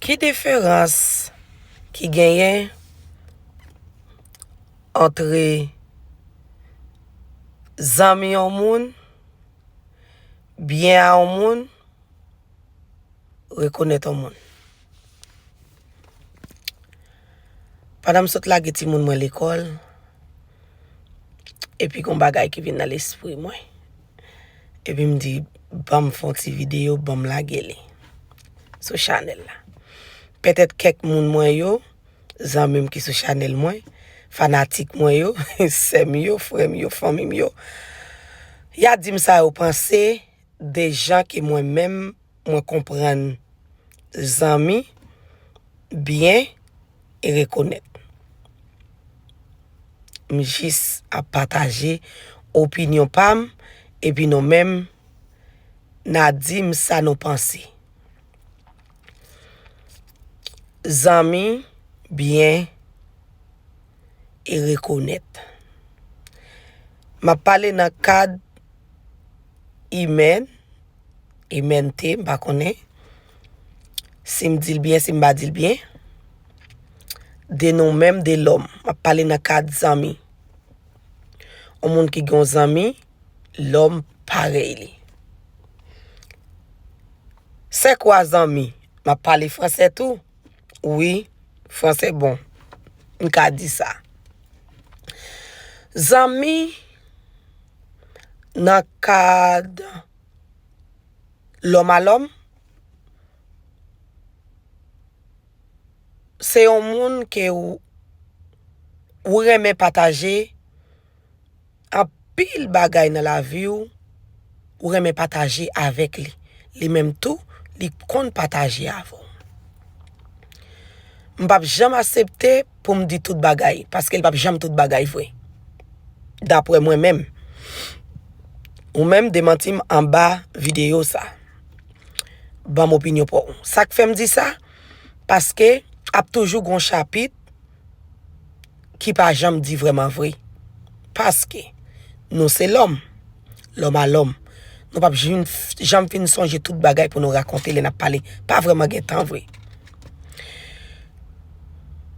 Ki diferans ki genyen antre zanmi yon moun, byen a yon moun, rekonèt yon moun? Pandan m sot lage timoun mwen lekòl, epi gen yon bagay ki vin nan lespri mwen. Epi m di, ban m fè yon ti videyo, ban m lage li sou chanèl la. Petèt kèk moun mwen yo, zanmi m ki sou chanèl mwen, fanatik mwen yo, sè m yo, frè m yo, fanmi m yo, y a di m sa yo panse de jan ke mwen menm mwen konprann zanmi, byen e rekonèt. M jis ap pataje opinyon pa m epi nou menm na di m sa nou panse. Zanmi, byen e rekonèt. M ap pale nan kad imèn. e mente m pa konnen si m di l byen si m pa di l byen de nou menm de lòm m ap pale nan kad zanmi yon moun ki gen yon zanmi lòm parèy li sè kwa zanmi m ap pale fransè tou wi fransè bon m ka di sa zanmi nan kad lòm a lòm, se yon moun ke ou renmen pataje anpil bagay nan lavi ou, ou renmen pataje avèk li. Li menm tou, li konn pataje avè w. M pap janm asepte pou m di tout bagay paske l pap janm tout bagay vre daprè mwen menm ou menm demanti m anba videyo sa banm opinyon pa w sa k fè m di sa paske ap toujou gon chapit ki pa janm di vrèman vre paske nou se lòm lòm a lòm nou pap janm fin sonje tout bagay pou nou rakonte lè n ap pale pa vrèman gen tan vre.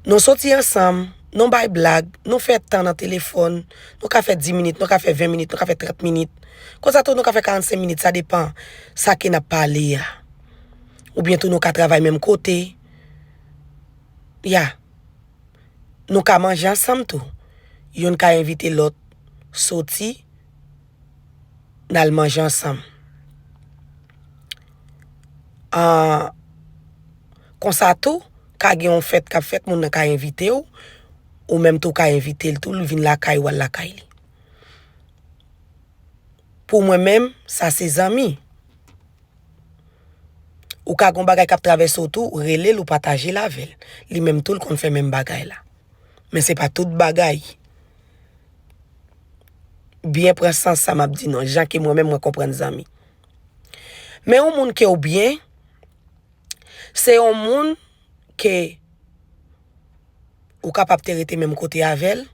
Nou soti ansanm, nou bay blag, nou fè tan nan telefòn, nou ka fè 10 minit, nou ka fè 20 minit, nou ka fè 30 minit, konsa tou nou ka fè 45 minit, sa depan sa ke n ap pale a. Oubyen tou nou ka travay menm kote, ya. Nou ka manje ansanm tou, youn ka envite lòt soti. n al manje ansanm. An Konsa tou, ka gen yon fèt k ap fèt, moun nan ka envite w, ou menm tou w ka envite l tou, li vin lakay ou, w al lakay li. Pou mwen menm, sa se zanmi. Ou ka gen yon bagay k ap travèse w tou, ou rele l, ou pataje l avè l. Li menm tou l konn fè menm bagay la. Men se pa tout bagay. byen pran sans sa map di non jan ke mwen menm mwen konprann zanmi men yon moun ke ou byen se yon moun ke ou kapab te rete menm kote avèl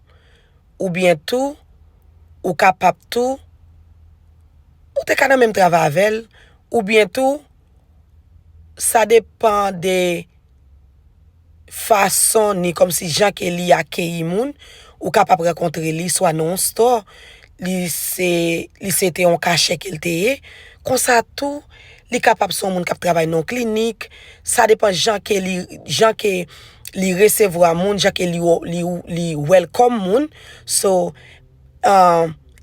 ou byen tou ou kapab tou ou te ka nan menm travay avèl ou byen tou sa depan de fason ni kòm si jan ke li akeyi moun, ou ka pap rankontre li swa nan yon stò, li se, li se te yon kachè ke l te ye, konsa tou, li kapab se yon moun k ap travay nan yon klinik, sa depan jan ke li, jan ke li resevwa moun, jan ke li, li, li welcome moun, so,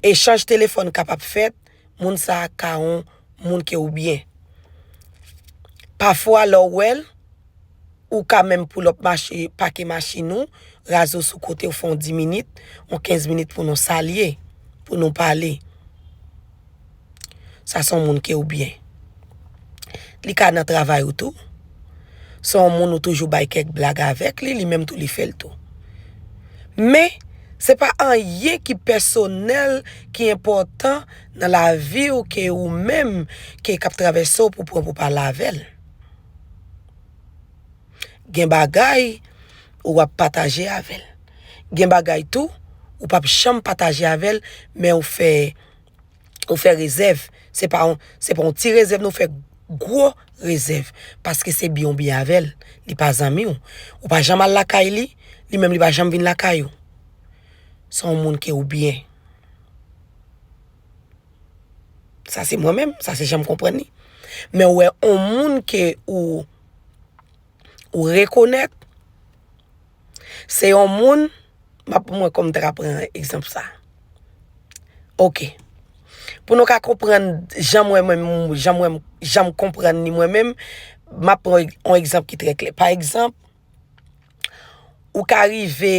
echanj telefòn kapab fèt. moun sa a ka on moun ke ou byen. Pafwa lè ou wè l, ou ka menm pull up mache, pake machin ou, raze w sou kote ou fè on 10 minit, on 15 minit pou nou salye, pou nou pale. Sa se on moun ke ou byen. Li ka nan travay ou tou. Se yon moun ou toujou bay kèk blag avèk li, li menm tou li fè l tou. Men, se pa anyen ki pèsonèl, ki enpòtan nan lavi ou ke ou menm ke k ap travèse w pou pran pou pale avè l. Gen bagay ou ap pataje avè l. Gen bagay tou ou p ap janm pataje avè l men ou fè Nou fè rezèv, se pa yon ti rezèv nou fè, gwo rezèv. Paske se byen ou byen avè l, li pa zanmi ou. Ou pa janm al lakay li, li menm li pa janm vin lakay ou. Se yon moun ke ou byen. Sa se mwen menm, sa se jan m konprann li. Men ou wè yon moun ke ou rekonèt. Se yon moun, m ap pran mwen kòm ta pran egzanp sa. Ok. Pou nou ka konprann jan mwen menm, jan mwen, jan m konprann li mwen menm, m ap pran yon egzanp ki trè klè. Pa egzanp, ou ka rive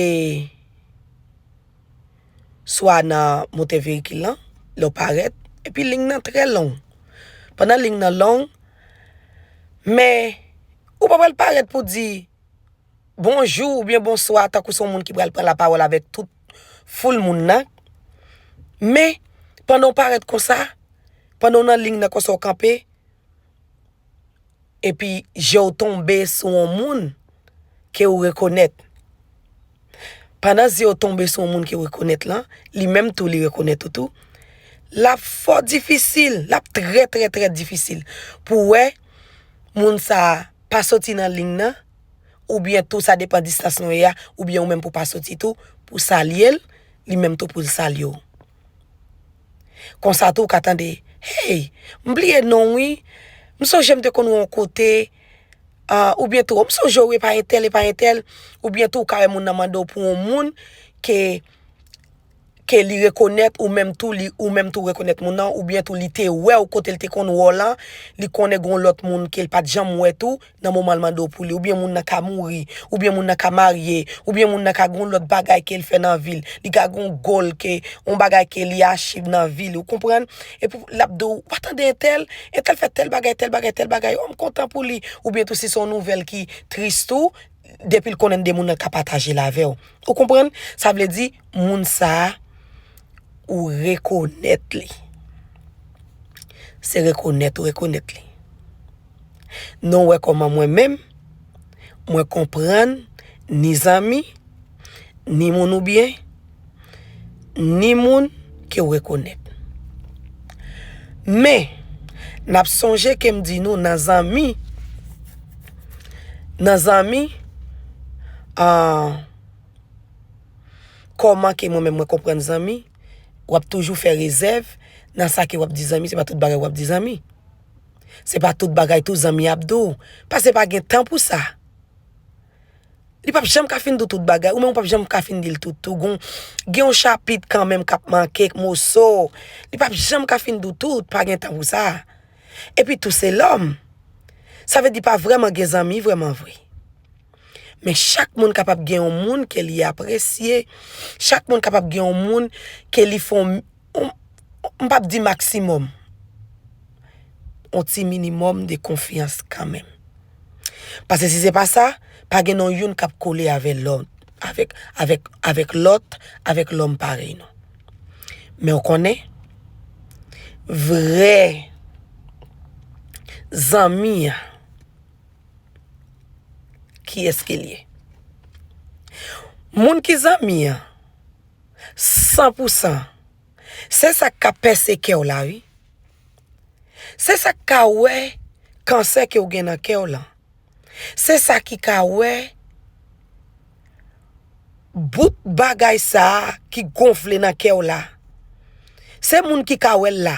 swa nan motè veyikil lan, lè w parèt, epi ling nan trè long. Pandan ling nan long, men ou pa pral parèt pou di, bonjou oubyen bonswa tankou se yon moun ki pral pran lapawòl avèk tout foul moun nan. Men, pandan w parèt konsa, pandan w nan ling nan konsa w kanpe, epi je w tonbe sou yon moun ke ou rekonèt. Pandan zye w tonbe sou yon moun ke w rekonèt lan, li menm tou li rekonèt ou tou, l ap fò difisil, l ap trè trè trè difisil pou w wè moun sa a pa soti nan ling nan, oubyen tou sa depan distans nou ye a, oubyen ou menm pou pa soti tou, pou salye l, li menm tou pou l salye w. Konsa tou ou ka tande, Hey! M bliye non w wi, m sonje m te konn wè w yon kote, oubyen tou, M sonje w epa entèl, epa entèl, oubyen tou ou ka wè moun nan mande w pou yon moun ke. ke li rekonèt ou menm tou li ou menm tou rekonèt moun nan ou byen tou li te wèw kotel te konn wè w lan li konnen gon lòt moun kel pat janm wè tou nan moman l mande w pou li ou byen moun nan ka mouri ou byen moun nan ka marye ou byen moun nan ka gon lòt bagay kel fè nan vil li ka gon gòl ke on bagay ke li achiv nan vi li ou konprann epi lap di w wa tande entèl entèl fè tèl bagay tèl bagay tèl bagay o m kontan pou li ou byen tou si son nouvèl ki tris tou. depi l konnen de moun nan ka pataje l avè w. Ou konprann? Sa vle di, moun sa a, ou rekonèt li. Se rekonèt ou rekonèt li. Nou wè kòman mwen menm, mwen konprann ni zanmi, ni moun ou byen. ni moun ke w rekonèt. Men, n ap sonje ke m di nou nan zanmi, nan zanmi, an, kòman ke mwen menm mwen konprann zanmi, w ap toujou fè rezèv nan sa ke w ap di zanmi, se pa tout bagay w ap di zanmi. Se pa tout bagay tou zanmi ap di w, paske pa gen tan pou sa. Li pap janm ka fin di w tout bagay, ou menm ou pap janm ka fin di l tout tou. Gen yon chapit kanmenm k ap manke, k moso. Li pap janm ka fin di w tout, pa gen tan pou sa. Epi tou se lòm. Sa vle di pa vrèman gen zanmi vrèman vre. Men chak moun kapab gen yon moun ke li apresye, chak moun kapab gen yon moun ke li fon. m pap di maksimòm, yon ti minimòm de konfyans kanmenm. Pase si se pa sa, pa gen nou youn kap kole avè lòt, avèk lòt, avèk lòm parèy nou. Men ou konnen, vrè zanmi an, kiyès ke l ye? Moun ki zanmi an, san pou san se sak ka pèse kèw la wi se sak ka wè kansè kew gen nan kèw lan se sa ki ka wè bout bagay sa ki gonfle nan kèw la se moun ki ka wèl la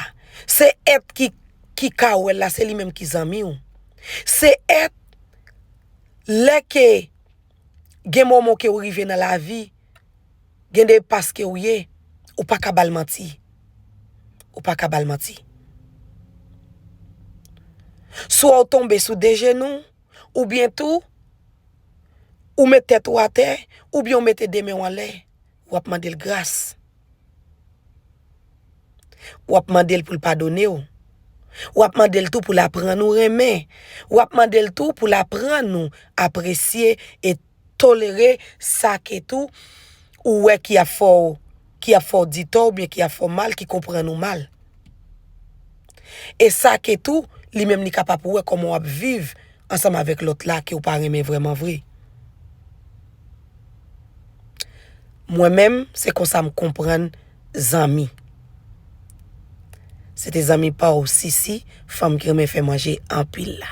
se èt ki ka wèl la se li menm ki zanmiw se èt lè ke gen moman kew rive nan lavi gen de pas kew ye ou paka bal manti ou paka bal manti swa ou tonbe sou de jenou oubyen tou ou met tèt ou atè oubyen ou mete de menw anlè wap mandel gras. Wap mandel poul padonew. Wap mandel tou poul aprann ou renmen. Wap mandel tou poul aprann ou apresye e tolere sa ke tou ou wè ki ap fè w di tò oubyen ki ap fè w mal, ki konprann ou mal. E sa ke tou, li menm li ka pa pou wè kòman wap viv ansanm avèk lòt la ke ou pa renmen vrèman vre. Mwen menm, se konsa m konprann zanmi. Se te zanmi pa w Sisi, fanm ki renmen fè manje anpil la.